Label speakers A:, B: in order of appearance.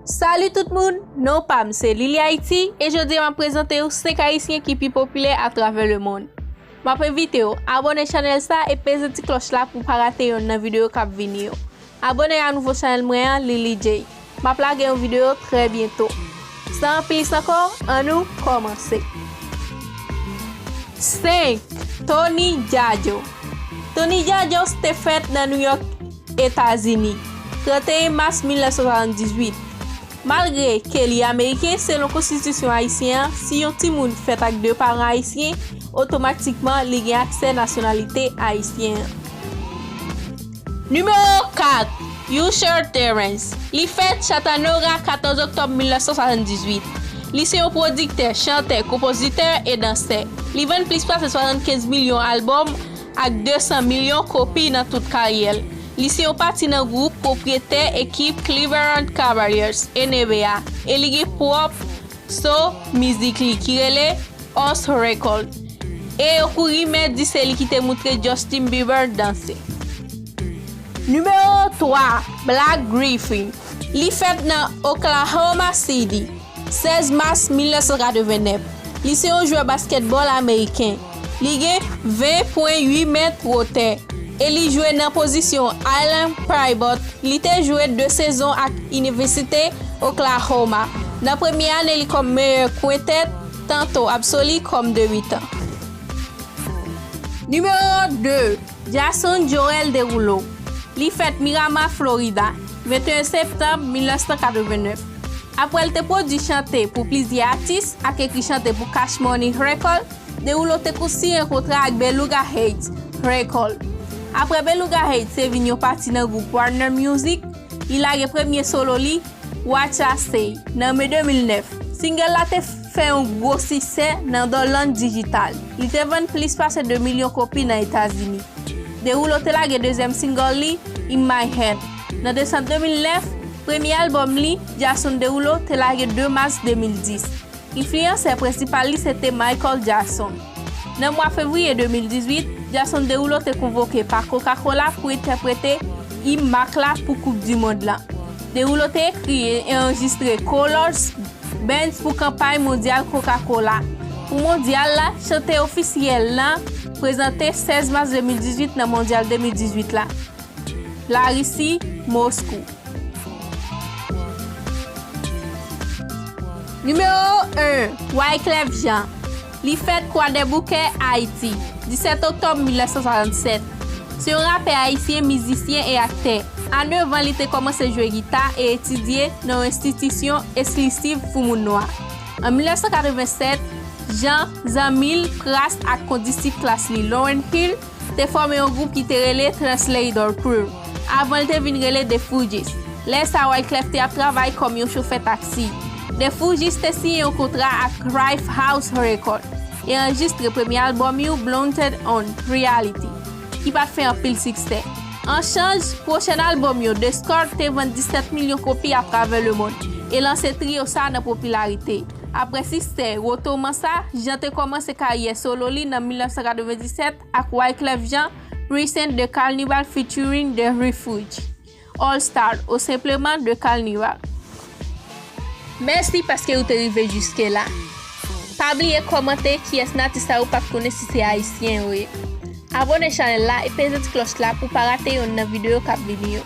A: Salut tout moun, non pam se Lily Haiti e jodi map prezante ou 5 ayisyen ki pi popilè a travè le mond. Map envite ou abone chanèl sa e peze ti klòch la pou pa rate yonn nan video kap vini yo. Abone a nouvo chanèl mwen an Lily Jay. Map lage yon video trè byento. San anpilis ankò, an nou kòmanse. 5, Tony Djadjo Tony Djadjo te fèt nan New York, Etazini, 31 mas 1978. Malgre ke li ameriken, selon konstitisyon ayisyen an, si yon timoun fèt ak 2 paran ayisyen, otomatikman li gen aksè nasyonalite ayisyen an. Nimewo 4, Usher Terrence. Li fèt Chattanooga, 14 oktòb 1978. Li se yon pwodiktè, chantè, konpozitè, e dansè. Li vann plis pase 75 milyon albòm. Ak 200 milyon kopi nan tout karyè l, li se yon pati nan gwoup pwopriyetè ekip Cleveland Cavaliers, NBA, e li gen pwòp so mizik li ki rele Us Records, e yo kou rimè di se li ki te moutre Justin Bieber danse. Nimewo 3, Blake Griffin Li fèt nan Oklahoma City. 16 mas 1989, li se yon jwè baskètbòl ameriken. Li gen 20 pwen 8 mèt wotè e li jwe nan pozisyon Island Pivot. Li te jwe 2 sezon ak Inivesite Oklahoma, nan premye ane li kòm meyè kwentèt, tanto absoli kòm de mitan. Nimewo 2, Jason Joel Derulo, Li fèt Miramar, Florida, 21 septanm 1989. Apre l te pwodui chante pou plizyè atis ak ekri chante pou Cash Money Record, Derulo te kou siyen kontra ak Beluga Heights Record. Apre Beluga Heights te vin yon pati nan gwoup Warner Music, li lage premye solo li, Watch I Say, nan me 2009. Singel la te fè yon gwo siksè nan Dor Land Digital, li te vann plis pase 2 milyon kopi nan Etazini. Derulo te lage dezyèm singel li, In My Hand. Nan desanm 2009, premye albòm li, Jason Derulo, te lage 2 mas 2010. Enfliyansè prensipal li se te Michael Jackson. Nan mwa fevriye 2018, Jason Derulo te konvoke pa Coca-Cola pou entèprete im mak la pou koup du mond la. Derulo te ekri e anrejistre Colors, Bands pou kanpay mondyal Coca-Cola. Pou mondyal la, chante ofisyèl la prezante 16 mas 2018 nan mondyal 2018 la. Larisi, Moskou. Nimewo 1, Wyclef Jean. Li fèt Kwadèboukè, Ayiti, 17 oktòb 1967. Se yon rapè ayisyen, mizisyen e aktè. A 9 an li te kòmanse jwe gita e etidye nan yon enstitisyon eslisiv pou moun nwa. An 1987, Jean, zanmi l, Pras ak kondisip klas li Lauryn Hill, te fòme yon gwoup ki te rele Translator Crew, avan l te vin rele The Fugees. Lè sa a Wyclef te ap travay kòm yon chofè taksi. The Fugees te siyen yon kontra ak Cryph House Records e anrejistre premye albòm yo Blunted On Reality, ki pa t fè anpil siksè. An chanj, pwochen albòm yo The Score te vann 17 milyon kopi atravè lemond e lanse trio sa a nan popilarite. Aprè siksè Rotoman sa, Jean te kòmanse karyè solo li nan 1997 ak Wyclef Jean, Present The Carnival Featuring The Refuge, All Star ou senpleman The Carnival. Mèsi paske ou te rive jiske la. Pa bliye kòmante kiyès nan atis sa ou pat konnen si se ayisyen yo ye. Abone chanèl la e peze ti klòch la pou pa rate yonn nan videyo kap vini yo.